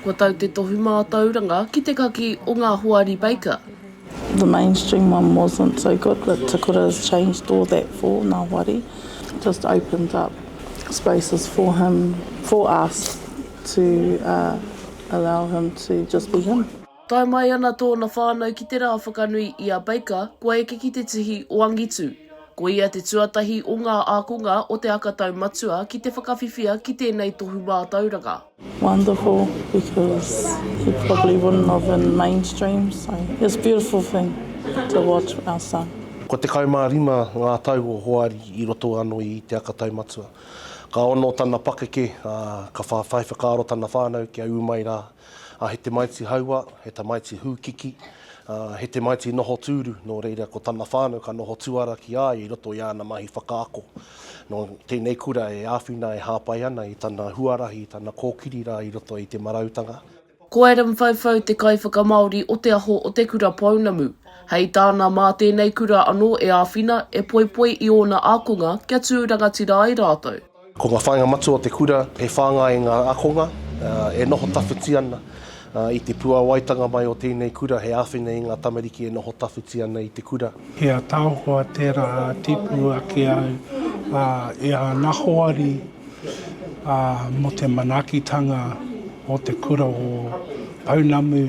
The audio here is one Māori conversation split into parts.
Kua tau te tohu mātauranga ki te kaki o ngā hoari Baker. The mainstream one wasn't so good but Te Kura has changed all that for ngā hoari, just opened up spaces for him, for us to allow him to just be him. Tae mai ana tōna whānau ki te rā whakanui i a Baker kua eke ki te tihi o angitu. Ko ia te tuatahi o ngā ākonga o Te Aka Tau Matua ki te whakawhiwhia ki tēnei tohu mātauranga. Wonderful because he probably wouldn't have in mainstream so it's beautiful thing to watch our son. Kua tekau mā rima ngā tau o Hoari i roto ano i Te Aka Tau Matua. Ka ono tana pakeke, a, ka whawhai whakaaro tana whanau kia ū mai rā. ā, he tamaiti hauā, he tamaiti hūkiki, ā, he tamaiti noho tūru, nō reira ko tana whānau ka noho tuara ki a ia i roto i āna mahi whakaako. Nō tēnei kura e āwhina e hāpai ana i tana huarahi, i tana kōkiri rā i roto i te marautanga. Ko Adam Whauwhau te kaiwhakamāori o te aho o Te Kura Pounamu. Hei tāna, mā tēnei kura anō e āwhina, e poipoi i ōna ākonga kia tū rangatira ai rātou. Ko ngā whāinga matua o te kura he whāngai i ngā ākonga e noho tawhiti ana i te puāwaitanga mai o tēnei kura, he āwhina i ngā tamariki e noho tawhiti ana i te kura. He ataahua tērā tipu ake au i ana hoari mō te manaakitanga o te kura o Pounamu.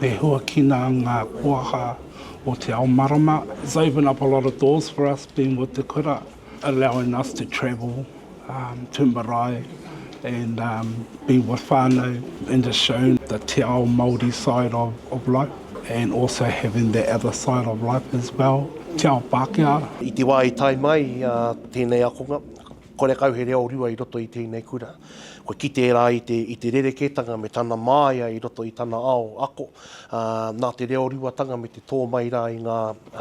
E huakina ngā koaha o te ao marama. It's opened up a lot of doors for us being with Te Kura, allowing us to travel to marae and be with whānau and just shown the te ao Māori side of life and also having that other side of life as well, te ao Pākehā. I te wā i tae mai tēnei akonga, Kore kau he reo rua i roto i tēnei kura. Kua kite e rā i te, i te rerekētanga me tana māia i roto i tana ao ako, ā, nā te reo ruatanga me te tō mai rā i ngā,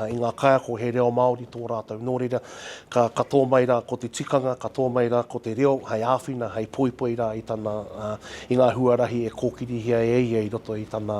i ngā kaiako he reo Māori tō rātou. Nō reira, ka, ka tō mai rā ko te tikanga, ka tō mai rā ko te reo hei āwhina, hei poipoi rā i tana, ā, i ngā huarahi e kōkirihia e ia i roto i tana,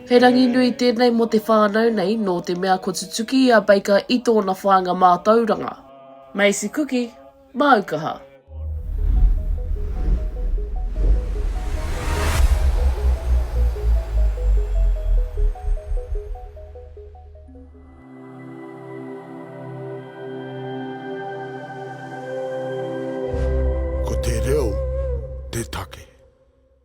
He rangi nui tēnei mō te whānau nei nō te mea kua tutuki i a Baker i tōna whāinga mātauranga. Macy Kuki, māu kaha. Ko te reo te take.